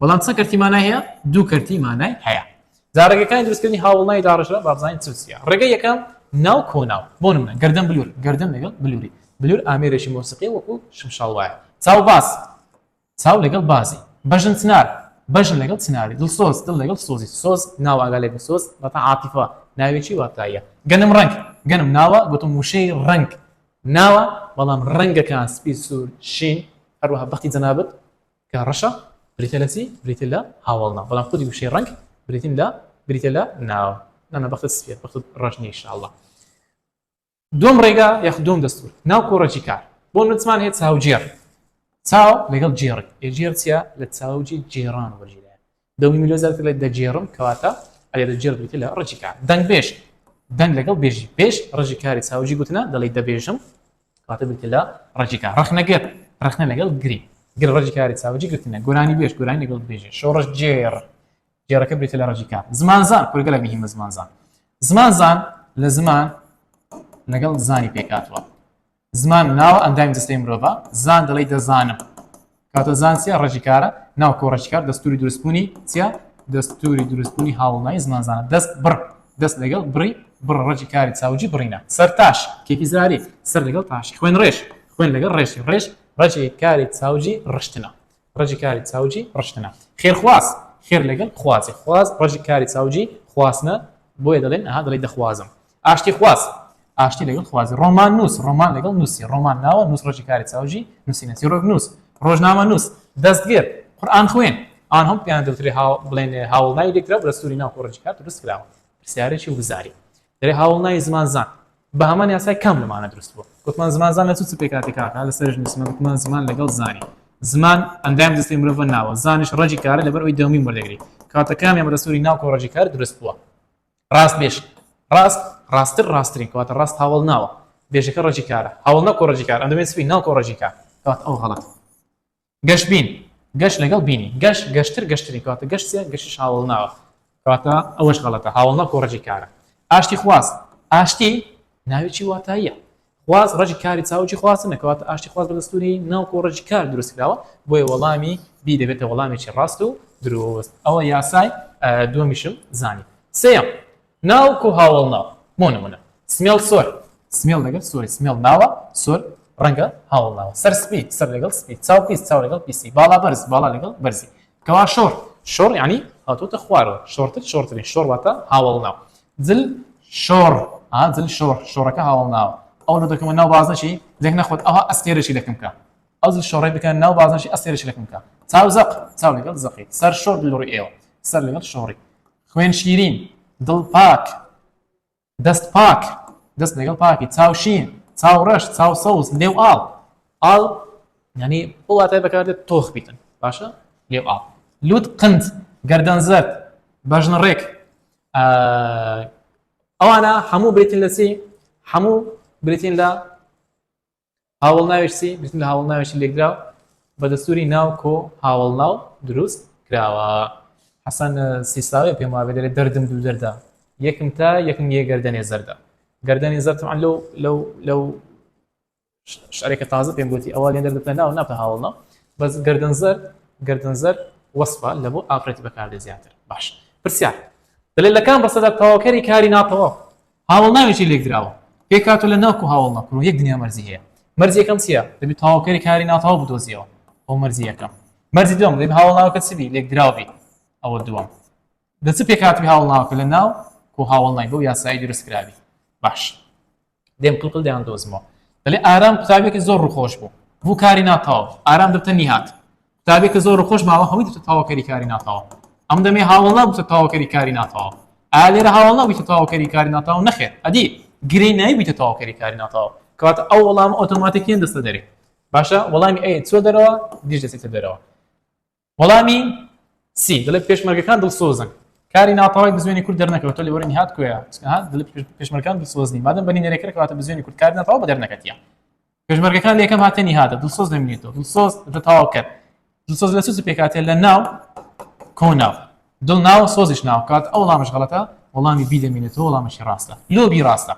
بەڵام چەند کەرتی مانای هەیە دوو کەرتی مانای هەیە جا ڕێگەکانی دروستکردنی هاوڵناوی داڕشە بابزانین چ چیە ڕێگە یەکەم ناو کۆناو بۆ منە گردن بلور گردن لەگەڵ بلوری بلور ئامێرێکی مۆسیقی وەکو شمشاڵ وایە چاو باز چاو لەگەڵ بازی بەژن چنار بەژن لەگەڵ چناری دڵ سۆز دڵ لەگەڵ سۆزی سۆز ناو ئاگا لێک سۆز بەتا عاتیفا ناوێکی واتایە گەنم ڕنگ گەنم ناوە گوتم وشەی ڕنگ ناوە بەڵام ڕەنگەکان سپی سوور شین هەروەها بەختی جەنابەت کە ڕەشە بریتیە لە چی؟ بریتیە لە هاوەڵناو، بەڵام خودی وشەی ڕەنگ بریتین لە بریتیە لە ناو نانا بەختت سپیە بەختت ڕەش نیە ئیشاڵڵا دوم ڕێگا یاخود دوم دەستور ناو کۆڕەکی کار بۆ نوتمان هەیە چاوجێڕ چاو لەگەڵ جێڕی ئێ جێڕ چیە لە چاوجی جێڕان وەرگیرێ دەنگی میلۆ زیاتر لە دەگێڕم کەواتە ئەگەر دەگێڕ بریتیە لە ڕەجی کار دەنگبێژ دەنگ لەگەڵ بێژی بێژ ڕەجی کاری چاوجی گوتنە دەڵی دەبێژم کەواتە بریتیە لە ڕەجی کار ڕەخنەگەر ڕەخنە لەگەڵ گری گر ڕەجی کاری چاوجی گرتنە گۆرانی بێژ گۆرانی لەگەڵ بێژێ شۆڕش جێڕ جێڕەکە بریتە لە ڕەجی کار زمانزان کورگە لە مهمە زمانزان زمانزان لە زمان لەگەڵ زانی پێکاتوە زمان ناوە ئەندامی جەستەی مرۆڤە زان دەڵێی دەزانم کاتۆ زان چیە ڕێژی کارە ناو کۆڕەکی کار دەستوری دروستبوونی چیە دەستوری دروستبوونی هاوڵنای زمان زانە دەست بڕ دەست لەگەڵ بڕی بڕ ڕەجی کاری چاوجی بڕینە سەر تاش کێکی زاری سەر لەگەڵ تاشی خوێن ڕێژ خوێن لەگەڵ ڕێژی ڕێژ ڕەجی کاری چاوجی ڕشتنە ڕەجی کاری چاوجی ڕشتنە خێر خواز خێر لەگەل خوازی خواز ڕەجی کاری چاوجی خواستنە بۆیە دەلێن ئەها دەلێی دەخوازم ئاشتی خواز ئاشتی لەگەل خوازی ڕۆمان نوس ڕۆمان لەگەل نوسی ڕۆمان ناوە نوس ڕەجی کاری چاوجی نوسینە چیڕۆک نوس ڕۆژنامە نوس دەست گێر قورئان خوێن ئان هەم پێیان دەوترێ هاو بلێن هاوڵ ناوی لێکراو بەدەستوری ناو کۆ ڕەجی کار دروست کراوە پرسیارێکی وزاری دەرێ هاوڵ نای زمان زان بە هەمان یاسای کام لەمانە دروست بوو گوتمان زمان زان لە چ پێکاتی کاکە لە سەرژ نووسمە گوتمان زمان لەگەڵ زانی زمان ئەندام دەستی مرۆڤە ناوە زانش ڕەجی کارە لەبەر ئەوی دەمی وەردەگری کاتەکان ئەمە دەسوری ناو کۆڕەجی کار دروست بووە ڕاست بێش ڕاست ڕاستتر ڕاستترین کاتە ڕاست هاوڵ ناوە بێژەکە ڕەجی کارە هاوڵ نە کۆڕەجی کار ئەندەمێ سوی ناو کۆڕەجی کار کات ئەو غەڵەت گەش بین گەش لەگەڵ بینی گەش گەشتر گەشترین کەواتە گەش چیە گەشیش هاوەڵناوە کەواتە ئەوەش غەڵەتە هاوەڵنا کۆ ڕەجی کارە ئاشتی خواز ئاشتی ناوێکی واتاییە خواز ڕەجی کاری چاوکی خواستنە کەواتە ئاشتی خواز بە دەستوری ناو کۆ ڕەجی کار دروست کراوە بۆیە وەڵامی بی دەبێتە وەڵامێکی ڕاست و درۆست ئەوە یاسای دومیشم زانی سێم ناوک و هاوەڵناو، بۆ نموونە، سمێڵ سۆر، سمێڵ لەگەڵ سۆری سمێڵ ناوە، سۆر ڕەنگە هاوەڵناوە، سەرسپی، سەر لەگەڵ سپی، چاو پیس، چاو لەگەڵ پیسی، باڵا بەرز، باڵا لەگەڵ بەرزی، کەوا شۆڕ، شۆڕ یانی هاتووەتە خوارەوە، شۆڕتر، شۆڕترین، شۆڕ واتە هاوەڵناو، جل شۆڕ، ئا جل شۆڕ، شۆڕەکە هاوەڵناوە، ئەو لۆ دەکەمە ناو بازنەشی، لێک نەخوات ئەوها ئەستێرەشی لەکم کا، ئەو جل شۆڕەی بکەنە ناو بازنەشی ئەستێرەشی لەکم کا، چاو زەق، چاو لەگەڵ زەقی، سەر شۆڕ لە ڕووی ئێوە، سەر لەگەڵ شۆڕی، خوێن شیرین، دڵ پاک، دەست پاک، دەست لەگەڵ پاکی، چاو شین، چاو ڕەش، چاو سەوز، لێو ئاڵ، ئاڵ یانی ئەو واتای بەکاردێت تۆخ بیتن باشە لێو ئاڵ، لوت قند، گەردەن زەرد، بەژن ڕێک ئەوانە هەموو بریتین لە چی؟ هەموو بریتین لە هاوەڵناوێشسی گوتم لە هاوڵناوێشی لێکدراو بە دەستوری ناو کۆ هاوڵناو دروست کراوە حەسەن سیساوێ پێم وابێ دەێت دەردم دوو دەردا یەکم تا یەکم یە گەردەێ زەردە گەردەێ زەرتمان لەو لەو لەو شارێکە تازە پێم گوتی ئەوە لێ دەردە ناو ناپە هاوڵنا بەس گردن زەر گردن زەر وەسفە لە بۆ ئافرەتی بەکاردێ زیاتر باش پرسیار دەێت لەکان بەسەدا تەواوکەری کاری ناتەواو هاوەڵ ناوێکی لێکدراوە پێکهاتووە لە ناک و هاوەڵ نەکۆڵ و یەک دنیا مەرجی هەیە. مەرجی یەکەم چییە؟ دەبێ تەواوکەری کاری ناتەواو بدۆزییەوە. ئەوە مەرجی یەکەم. مەرجی دووەم، دەبێ هاوەڵناوەکە چ بی؟ لێکدراو بی. ئەوە دووەم. لە چ پێکهاتووی هاوەڵناوەکە لە ناک و هاوەڵ نای بەو یاسایەی دروست کرابی؟ باش. دێم قلقل دەیان دۆزمەوە. دەلێ ئارام قوتابیەکی زۆر ڕووخۆش بوو. بوو کاری ناتەواو. ئارام دەبتە نیهاد. قوتابێک کە زۆر خۆش ماوە هەمووی دەچێت تەواوکەری کاری ناتەوە ئەم دەمێ هاوڵ نابووتە تەواوکەری کاری ناتەوە ئا لێرە هاوڵ نابووتە تەواوکەری کاری ناتەوە نەخێت ئەدی گرێ نایبیتە تەواوکەری کاری ناتەوە کەواتە ئەو وەڵام ئۆتۆماتیکیان دەستە دەرێ باشە وەڵامی ئەی چۆ دەرەوە دیش دەسێتە دەرەوە وەڵامی سی دەڵێت پێشمەرگەکان دڵسۆزن کاری ناتەوای بزوێنی کورد دەرنەکەوە تۆ لێوەرنی هات کوێ دڵ پێشمەرگان دڵسۆزنی مادەم بەنی نەرێکرد کەواتە بزوێنی کورد کار ناتەوە بە دەرنەکەتیە پێشمەرگەکان لە یەکەم هاتنی هاتە دڵسۆز دەمێنێتەوە دڵسۆز دە تەواو کرد دڵسۆز لە سوز پێکاتێ لە ناو کۆناو دڵ ناو سۆزیش ناوکات ئەو وڵامش غڵەتە وەڵامی بی دەمێنێتەوە وڵامەشی ڕاستە لۆبی ڕاستە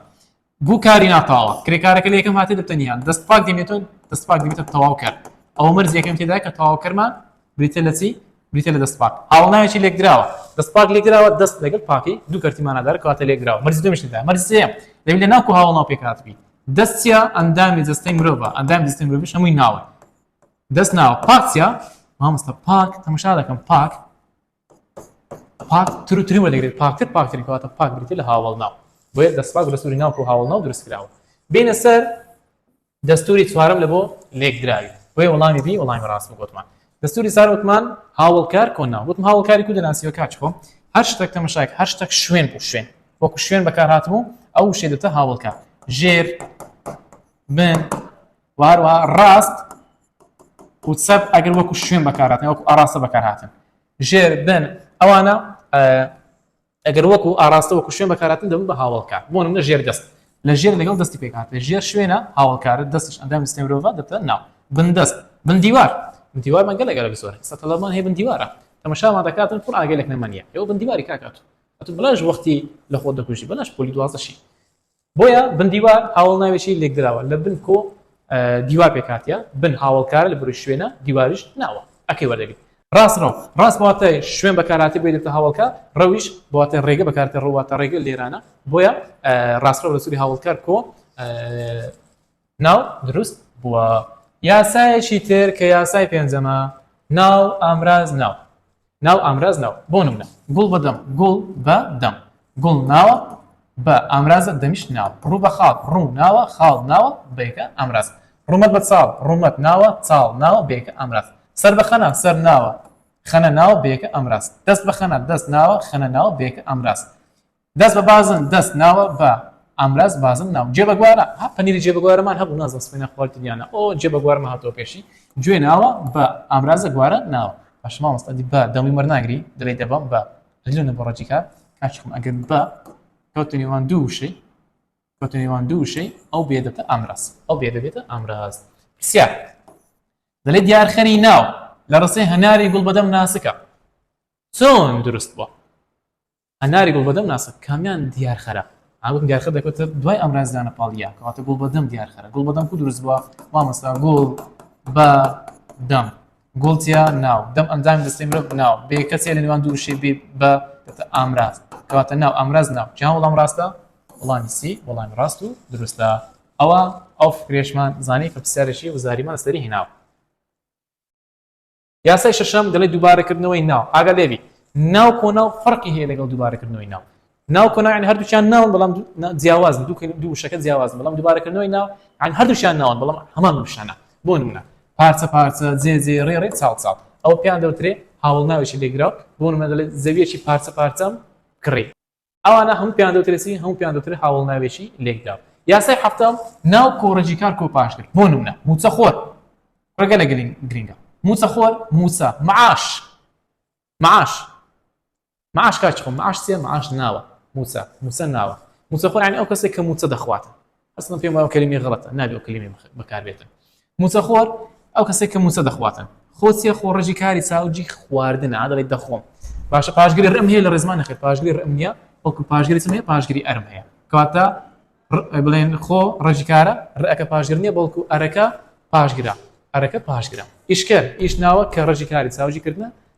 بوو کاری ناتاوە کرێکارەکە لە یەکەم هاتێ دەتەنیان دەست پاک دەمێتون دەست پاک دەمێتە تەواو کرد ئەو مەرز یەکەم تێدا کە تەواو کەرمان بریتیە لە چی؟ بریتیە لە دەستپاک، هاوەڵناوێکی لێکدراوە، دەستپاک لێکدراوە، دەست لەگەڵ پاکی دوو کەرتی مانادارە کەواتە لێکدراوە، مەرجی دووەمیش تێدایە، مەرجی سێیەم دەبی لە ناوک و هاوەڵناو پێکهاتبی، دەست چیە؟ ئەندامی جەستەی مرۆڤە، ئەندامی جەستەی مرۆڤیش هەمووی ناوە، دەست ناوە، پاک چیە؟ مامۆستا پاک تەمەشا دەکەم پاک پاکتر و تری وەردەگرێت پاکتر پاکترین کەواتە پاک بریتە لە هاوەڵناو بۆیە دەستپاک و دەستوری ناوکە و هاوەڵناو دروست کراوە بینە سەر دەستوری چوارەم لە بۆ لێکدراوی بۆیە وەڵامی بی وەڵامی ڕاست گوتمان دەستوری سار وتمان هاوڵکار کۆنا وتم هاوڵکاری کو دەناسیوە کاچ خۆم هەر شتێک تەمەشاک هەر شتێک شوێن بوو شوێن وەکو شوێن بەکار هاتم و ئەو شێدەتە هاوڵکار ژێر من و هەروە ڕاست و چەپ ئەگەر وەکو شوێن بەکاراتن وەکو ئاراستە بەکارهاتن ژێر بن ئەوانە ئەگەر وەکو ئاراستە وەکو شوێن بەکاراتن دەبن بە هاوڵکار بۆ منە ژێر دەست لە ژێر لەگەڵ دەستی پێکات لە ژێر شوێنە هاوڵکارە دەستش ئەندام سنێورۆڤ دەبتە ناو بندەست من دیوار من دیوار من گەلە گەلە بزۆر سەتەڵەمان هەیە من دیوارە تەمەشامان دەکاتن خۆ ئاگەلێک نەمەنیە ئەو بن دیواری کاکات ئەتو بلاش وەختی لە خۆ دەکوژی بەلاش پۆلی دوازەشی بۆیە بن دیوار هاوەڵ ناوێکی لێکدراوە لە بن کۆ دیوار پێکهاتە بن هاوەڵکارە لە بروی شوێنە دیواریش ناوە ئەکەی وەردەگری ڕاست ڕەو ڕاست بەواتای شوێن بەکارهاتی بۆی دەبتە هاوڵکە ڕەویش بەواتای ڕێگە بەکارتە ڕواتە ڕێگە لێرانە بۆیە ڕاستڕەو لە سوری هاوڵکار کۆ ناو دروست بووە یاسایەکی تر کە یاسای پێنجەمە ناو ئامراز ناو ناو ئامراز ناو بۆ نمونە گوڵ بە دەم گوڵ بە دەم گوڵ ناوە بە ئامرازە دەمیش ناو ڕوو بە خاڵ ڕوو ناوە خاڵ ناوە بەیەکە ئامراز ڕوومەت بە چاڵ ڕوومەت ناوە چاڵ ناوە بەیەکە ئامراز سەر بە خەنا سەر ناوە خەنە ناوە بەیەکە ئامراز دەست بە خەنا دەست ناوە خەنە ناوە بەیەکە ئامراز دەست بە بازن دەست ناوە بە ئامراز بازن ناو جێ بەگوارە ها پەنیری جێ بەگوارەمان هەبوو نازم سپێنە خوارد دیانە ئۆ جێ بەگوارمە هاتۆ پێشی گوێ ناوە بە ئامرازە گوارە ناوە باشما مەستادی بە دەڵی وەرناگری دەڵی دەبم بە لەلونە بۆ ڕەجی کار کاچخم ئەگەر بە کەوتنیوان دوو وشەی کەوتنیوان دوو وشەی ئەو بێدەتە ئامراز ئەو بێدە بێتە ئامراز پرسیار دەلێ دیارخەری ناو لە ڕسەی هەناری گوڵ بەدەم ناسکە چۆن دروست بووە هەناری گوڵبەدەم ناسە کامیان دیار خەرە ئاگوتم دیار خەر دەکەوتە دوای ئەمراز دانە پاڵیا کەواتە گوڵبەدەم دیار خەرە گوڵبەدەم کو دروست بووە مامۆستا گوڵ بە دەم گوڵتیا ناو دەم ئەندام دەستی مرۆڤ ناو بێ کەسێ لە نێوان دوو شێ بێ بە دەتە ئامراز کەواتە ناو ئامراز ناو جیان وەڵام ڕاستە وەڵامی سی وەڵامی ڕاست و دروستە ئەوە ئەو فکرێشمان زانی کە پرسیارێکی وزاریمان لەسەری هێناوە یاسای شەشەم دەڵێ دووبارەکردنەوەی ناو ئاگا لێبی ناو کۆنا و فەرقی هەیە لەگەڵ دووبارەکردنەوەی ناو ناو کۆناین هەردووچیان ناون بەڵام جیاواز دوو دوو شەکە جیاواز بەڵام دووبارەکردنەوەی ناو عن هەردووشیان ناون بەڵام هەمان بشانە بۆ نمونە پارچە پارچە جێ جێ ڕێ ڕێ چاڵ چاڵ ئەو پێیان دەوترێ هاوڵ ناوێکی لێگرا بۆ نمونە دەڵێت زەویەکی پارچە پارچەم کڕی ئەوانە هەموو پێیان دەوترێت چی هەموو پێیان دەوترێت هاوڵناوێکی لێکدراو یاسای حەفتەم ناو کۆڕێکی کار کۆپاش کرد بۆ نمونە موچەخۆر ڕێگە لە گرنگە موچەخۆر موچە معاش معاش معاش کاچ خۆم معاش چیە معاش ناوە موچە موچە ناوە موچەخۆر یعنی ئەو کەسێک کە موچە دەخوات ئەسڵەن پێم وایە کەلیمەی غەڵەتە نابێ ئەو کەلیمەی بخ- بەکار بێتن موچەخۆر ئەو کەسێک کە موچە دەخواتن خۆ چیە خۆ ڕژی کاری چاو جی خواردن عادڵی دەخۆم باشە پاشگری ڕم هەیە لە ڕێزمان نەخێ پاشگری ڕم نیە وەکو پاشگری چم هەیە پاشگری ئەرم هەیە کەواتە ڕ- بڵێن خۆ ڕژی کارە ڕەکە پاشگر نیە بەڵکو ئەرەکە پاشگرە ئەرەکە پاشگرە ئیشکەر ئیش ناوە کە ڕژی کاری چاوجی کردنە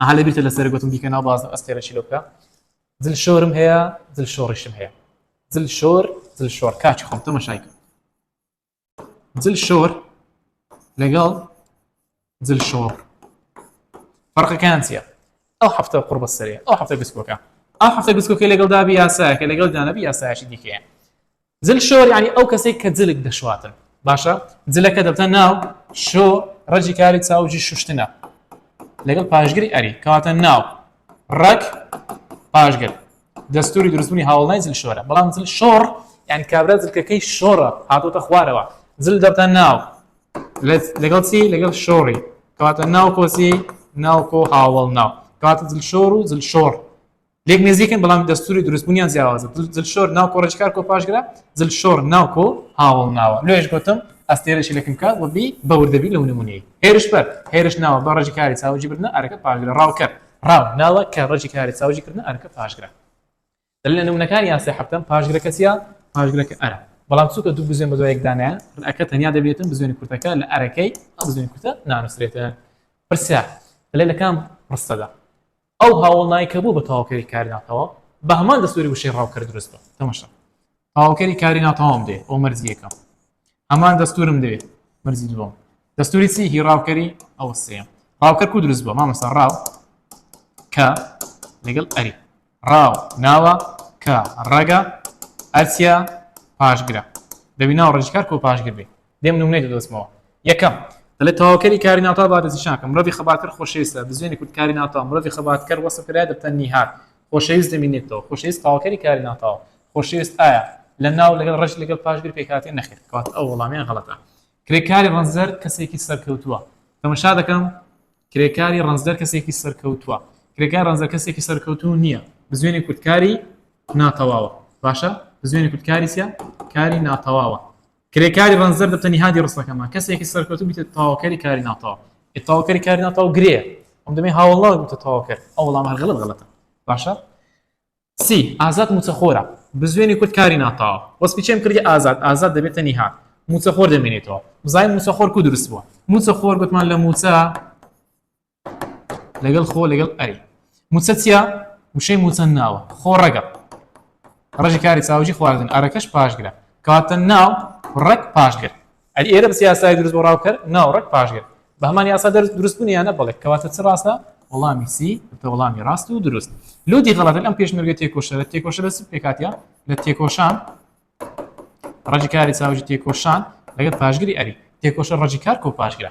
ئەها لەبیرتە لەسەرە گۆتم بیکە ناو بازنە ئەستێرەشی لۆ بکە زل شۆرم هەیە زل شۆڕیشم هەیە زل شۆر زل شۆر کاچی خۆم تەمەشای کرد زل شۆر لەگەڵ زل شۆڕ فەرقەکان چییە ئەو هەفتە قڕ بەسەرێ ئەو هەفتە گسکۆکە ئەو هەفتە گسکۆکە لەگەڵ دابی یاسایەکە لەگەڵ دانەبی یاسایشی دیکەیە جل شۆر یانی ئەو کەسەی کە جلک دەشواتن باشە جلەکە دەبتە ناو شۆ ڕەجی کاری چاوجی شوشتنە لەگەڵ پاشگری ئەری کەواتە ناو ڕەک پاشگر دەستوری دروستبوونی هاوڵای جل شۆرە بەڵام جل شۆڕ یان کابرا جلکەکەی شۆڕە هاتۆتە خوارەوە جل دەبتە ناو لەگەڵ چی لەگەڵ شۆڕی کەواتە ناو کۆسی ناوکۆ هاوڵ ناو کەواتە جل شۆر و جل شۆڕ لێک نێزیکن بەڵام دەستوری دروستبوونیان جیاوازە دلشۆر ناو کۆڕێژکار کۆ پاشگرە دلشۆر ناو کۆ هاوڵ ناوە لێش گوتم ئەستێرەشی لەکم کات وەبی بەوردەبی لە نمونەی هێرش بەر هێرش ناوە بە ڕژی کاری چاوجی بردنە ئەرەکە پاشگرە ڕاوکەر ڕاو ناوە کە ڕژی کاری چاوجی کردن ئەرەکە پاشگرە لە نمونەکانی یاسای حەفتەم پاشگرەکە چیە پاشگرەکە ئەرە بەڵام چووکە دوو بزوێن بە دوایەکدانە ڕەکە تەنیا دەبێتن بزوێن کورتەکە لە ئەرەکەی بزوێن کورتە نانووسێتە پرسیار لە لەکان ڕستەدا ئەو هاوڵنای کە بوو بە تەواوکەری کاری ناتەواو بە هەمان دەستوری وشەی ڕاوکەر دروست بە تەمەشا تەواوکەری کاری ناتەواوم دێ ئەو مەرزی یەکەم هەمان دەستورم دەوێت مەرزی دووەم دەستوری چی هی ڕاوکەری ئەوە سێم ڕاوکەر کو دروست بووە مامەسا ڕاو کە لەگەڵ ئەری ڕاو ناوە کە ڕەگە ئەرچیا پاشگرە دەبی ناو ڕژکار کۆ پاشگر بێ دێم نمونەی دەدۆزمەوە یەکەم دەڵێت تەواوکەری کاری ناوتا بادەزیشانکە مرۆڤی خەباتکەر خۆشەویستە بزوێنی کورد کاری ناوتا مرۆڤی خەباتکەر وەسف کرایە دەبتە نیهاد خۆشەویست دەمینێتەوە خۆشەویست تەواوکەری کاری ناوتاوە خۆشەویست ئایا لە ناو لەگەڵ ڕەش لەگەڵ پاشگر پێکهاتێ نەخێر کات ئەو وەڵامیان غەڵەتە کرێکاری ڕەنجدەر کەسێکی سەرکەوتووە تەمەشا دەکەم کرێکاری ڕەنجدەر کەسێکی سەرکەوتووە کرێکار ڕەنجە کەسێکی سەرکەوتوو نییە بزوێنی کوردکاری ناتەواوە باشە بزوێنی کوردکاریسە کاری ناتەواوە کرێکاری ڕەنجدەر دەبتە نیهادی ڕستەکەمان، کەسێکی سەرکەوتوو ببیتە تاوکەری کاری ناتاو. ئێ تاوکەری کاری ناتاو گرێیە، ئەم دەمێ هاوەڵناو ببیتە تاوکەر. ئەو وەڵامە هەر غەڵەت غەڵەتە. باشە؟ سی، ئازاد مووچەخۆرە. بزوێنی کورد کاری ناتاوە. وەسفی چێم کردی ئازاد، ئازاد دەبێتە نیهاد. مووچەخۆر دەمێنێتەوە. بزانین مووچەخۆر کوو دروست بووە. مووچەخۆر گوتمان لە مووچە. لەگەڵ خۆ لەگەڵ ئەری موچە چیا وشەی موچە ناوە خۆ ڕەگەڵ ڕژی کاری چاوجی خواردن ئەرەکەش پاشگرە کاتە ناو ڕەک پاشگر ئەری ئێرە بەس یاسای دروست بۆ ڕاوکەر ناو ڕەک پاشگر بە هەمان یاسا دەرز دروست بوونیانە بڵێت کەواتە چ ڕاستە وەڵامی سی تە وەڵامی ڕاست و دروست لودی غڵەتە ئەم پێشمەرگە تێکۆشە لە تێکۆشە لە پێکاتە لە تێکۆشان ڕژی کاری چاوجی تێکۆشان لەگەڵ پاشگری ئەری تێکۆشە ڕژی کار کۆ پاشگرە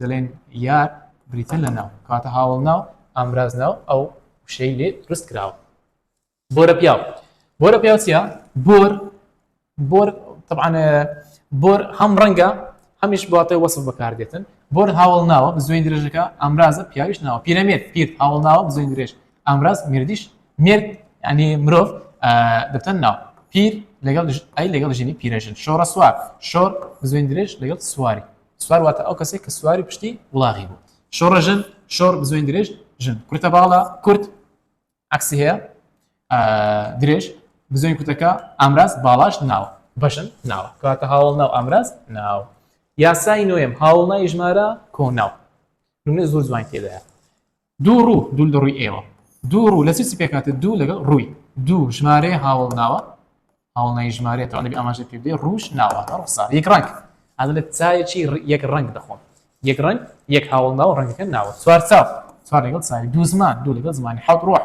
دەڵێن یار بریتە لە ناو کاتە هاوڵ ناو ئامراز ناو ئەو وشەی لێ دروست کراوە بۆرە پیاو بۆرە پیاوچە بۆر بۆر طبعاان بۆر هەم ڕەنگە هەمیش باتەوە وەسف بەکاردێتن بۆر هاوڵ ناوە بزوێن درێژەکە ئامرازە پیاویش ناوە پیرەمێت پیر هاوڵ ناوە بزوێن درێژ ئامراز مردیش مرد ینی مرۆڤ دەتەن ناو پیر لەگەڵ ئەی لەگەڵ ژنی پیرەژن شۆڕە سوار شۆر بزوێن درێژ لەگەڵ سواری سوار واتە ئەو کەسێک کە سواری پشتی وڵاغی بوو شۆڕە ژن شۆڕ بزوێن درێژ ژن کورتە باڵە کورت عکسی هەیە درێژ بزوێن کوتەکە ئامراز باڵاش ناوە بەشن ناوە کاتە هاوڵ ناو ئامراز ناو یاسای نوێم هاوڵ نای ژمارە کۆناو نمونە زۆر جوان تێدایە دوو ڕوو، دوو لە ڕووی ئێوە. دوو ڕوو لە چ چ پێکهاتە دوو لەگەڵ ڕووی؟ دوو ژمارەیە هاوەڵناوە، هاوەڵناوی ژمارەیەتەوە نەبی ئاماژەت پێ بدەی ڕووش ناوەتە ڕووخسار یەک ڕەنگ ئەمە لە چایەکی یەک ڕەنگ دەخۆم یەک ڕەنگ یەک هاوەڵناوە ڕەنگەکە ناوە چوارچاو چوار لەگەڵ چاوی دوو زمان دوو لەگەڵ زمانی حەوت ڕۆح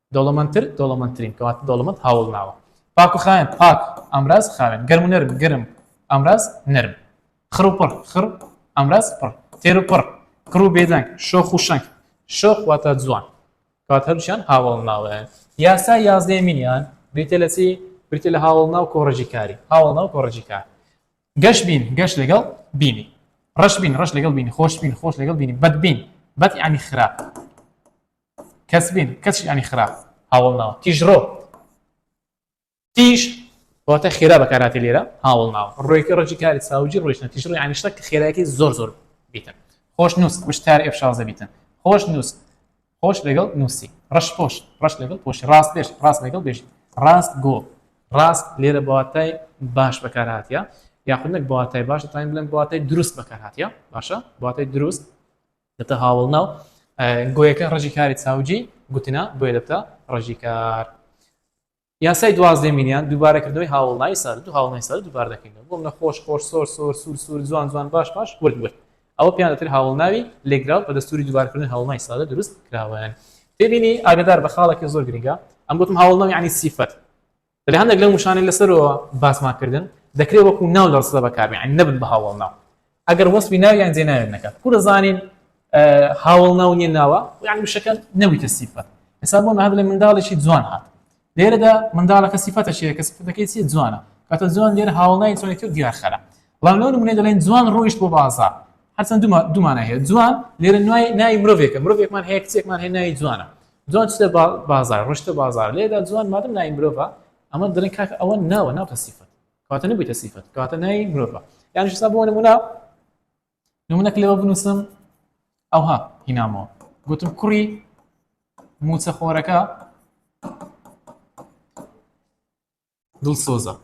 دەوڵەمەندتر، دەوڵەمەندترین، کەواتە دەوڵەمەند هاوەڵ ناوە. پاک و خاوێن، پاک، ئامراز، خاوێن، گەرم و نەرم، گەرم، ئامراز، نەرم، خڕ و پڕ، خڕ، ئامراز، پڕ، تێر و پڕ، کڕ و بێدەنگ، شۆخ و شەنگ، شۆخ واتە جوان، کەواتە هەردووکیان هاوەڵ ناوەن. یاسای یازدەیەمینیان بریتیە لە چی؟ بریتیە لە هاوەڵ ناو کۆڕەجی کاری، هاوەڵ ناو کۆڕەجی کار. گەش بین، گەش لەگەڵ بینی. ڕەش بین، ڕەش لەگەڵ بینی، خۆش بین، خۆش لەگەڵ بینی، بەد بین، بەد یانی خراپ. کەسبین کەس ینی خراپ هاوڵ ناوە تیژڕۆ تیژ واتە خێرا بەکاراتی لێرە هاوڵ ناوە ڕێکی ڕۆژی کاری ساوجی ڕۆژنە تیژڕۆ ینیشتە کە خێراکی زۆر زۆر بیتن خۆش نووس وشتار ئێفشازە بیتن خۆش نووس خۆش لەگەڵ نووسی ڕش خۆش ڕش لەگەڵ خۆش ڕاست بێش ڕاست لەگەڵ بێژ ڕاست گۆ ڕاست لێرە بەواتای باش بەکارهاتە یاخود نەک بەواتای باشە تاین بڵێن بەواتای دروست بەکارهاتە باشە بەواتای دروست دەبتە هاوەڵناو گۆیەکە ڕژی کاری چاوجی گوتنە بۆیە دەبتە ڕژی کار یاسای دوازدە میلیان دووبارەکردنەوەی هاوڵنای سەر دو هاوڵنای سەر دووبار دەکەینەوە بۆم لە خۆش خۆش سۆر سۆر سوور سوور جوان جوان باش باش ورد ورد ئەوە پیان دەتر هاوڵناوی لێگراو بە دەستوری دووبارکردن هەوڵنای سادە دروست کراوەیان تێبینی ئاگدار بە خاڵەکە زۆر گرنگە ئەم گوتم هاوڵناوی عنی سیفەت لە هەندێک لەم وشانەی لەسەرەوە باسمان کردن دەکرێت وەکو ناو لە ڕستە بەکاربێن یعنی نەبن بە هاوەڵناو ئەگەر وەسفی ناویان جێناوێت نەکات کورە زانین هاوەڵناو نییە ناوە یعنی وشەکە نەویتە سیفەت ئێستا بۆ هەر لە منداڵێکی جوان هات لێرەدا منداڵەکە سیفەتە شێ کە سفەتەکەی چی جوانە کاتە جوان لێر هاوڵنای چۆنێتی و دیارخەرە بەڵام لەو نمونەی دەڵێن جوان ڕۆیشت بۆ بازار هەرچەن دوو دوو مانای هەیە جوان لێرە نوای ناوی مرۆڤێکە مرۆڤێکمان هەیە کچێکمان هەیە ناوی جوانە جوان چتە با- بازار ڕشتە بازار لێدا جوان مادەم ناوی مرۆڤە ئەمە دەڵێن کاکە ئەوە ناوە ناوتە سیفەت کەواتە نەبوویتە سیفەت کەواتە ناوی مرۆڤە یانیش سا بۆ نموونە نمونەک لەوە بنووسم ئەوها هینامەوە گوتم کوڕی موچەخۆرەکە دڵسۆزە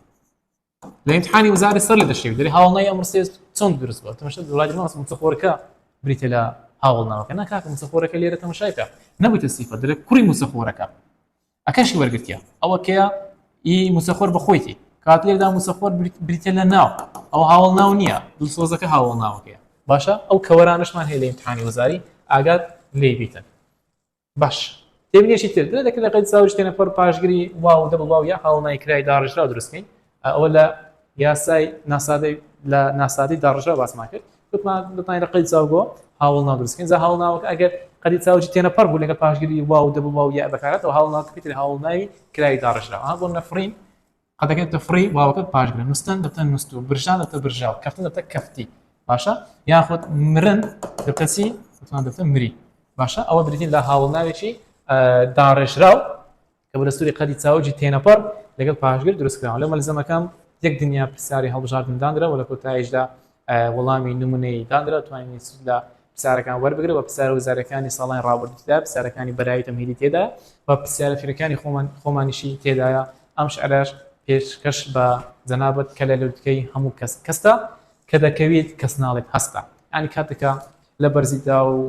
لە امتحانی وزاری سەر لە دەشێ دەێ هاوڵنای ئەم ڕسێ چۆن دروست بە تەمەشە دوڵای ماس مچەخۆرەکە بریتە لە هاوڵناوەکە ناکاکە مچەخۆرەکە لێرە تەمەشایکە نەبووتە سیفە دەێ کوڕی موچەخۆرەکە ئەکەشی وەرگتیە ئەوە کەە ئی موچەخۆر بە خۆیتی کات لێدا موچەخۆر بریتە لە ناو ئەو هاوڵ ناو نییە دڵسۆزەکە هاوڵ ناوەکەیە باشە ئەو کەوەرانشمان هەیە لە امتحانی وزاری ئاگات لێ بیتن باش تێبینیەکی تر درێ دەکرێت قەید ساوی شتێنە پەڕ پاشگری واو و دەبڵ واو یا هاوڵنای کرای داڕێژراو دروست بکەین ئەوە لە یاسای ناسادەی لە ناسادەی داڕژە باسمان کرد بتمان لە قەید ساو بۆ هاوڵنا دروست بکەین جا هاوڵناوەکە ئەگەر قەدی چاوجی تێنە پەڕ بوو لەگە پاشگری واو و دەبڵ واو یا بەکارەتەوە هاوڵناوەکە پێتر هاوڵناوی کرای داڕژراوە بۆ نەفڕین قەدەکەی تفڕی واوەکە پاشگرە نوستن دەبتە نوست و برژان دەبتە برژاو کەفتن دەبتە کەفتی باشە یاخود مرن دەبتە چی وتمان دەبتە مری باشە ئەوە بریتین لە هاوڵناوێکی داڕێژراو کە بە دەستوری قەدی چاوجی تێنەپەڕ لەگەڵ پاشگر دروستکراوە لە مەلزەمەکەم یەک دنیا پرسیاری هەڵبژاردنداندرا و لە کۆتاییشدا وەڵامی نمونەی دانرا توانین سود لە پرسیارەکان وەربگرە بە پرسیارە وزارەکانی ساڵانی ڕابردوودا پرسیارەکانی بەرایی تەمهیدی تێدا و پرسیارە فیرەکانی خۆمان خۆمانیشی تێدایە ئەم شعرەش پێشکەش بە جەنابەت کە لە لوتکەی هەموو کەس کەستە کە دەکەویت کەس ناڵێت هەستە ینی کاتێکە لە بەرزیدا و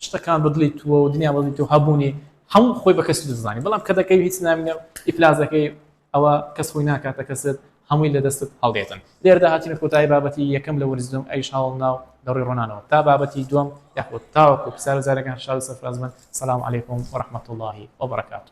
شتەکان بەدڵی تووە و دنیا بەدڵی تۆ هەبوونی هەموو خۆی بە کەسی دەزانانی بەڵام کە دەکەی هیچ نامینە ئیفلازەکەی ئەوە کەس خۆی ناکاتە کەست هەمووی لە دەستت هەڵدێتن لێردا هاتینە کۆتایی بابەتی یەکەم لە وەرزدوم ئەیش هاوڵ ناو لە ڕووی ڕۆنانەوە تا بابەتی دوم یاخود تاوەکو پسارە زارەکان شاد سەرفرازبن سلام علیکم و رحمت اللهی وبرکاته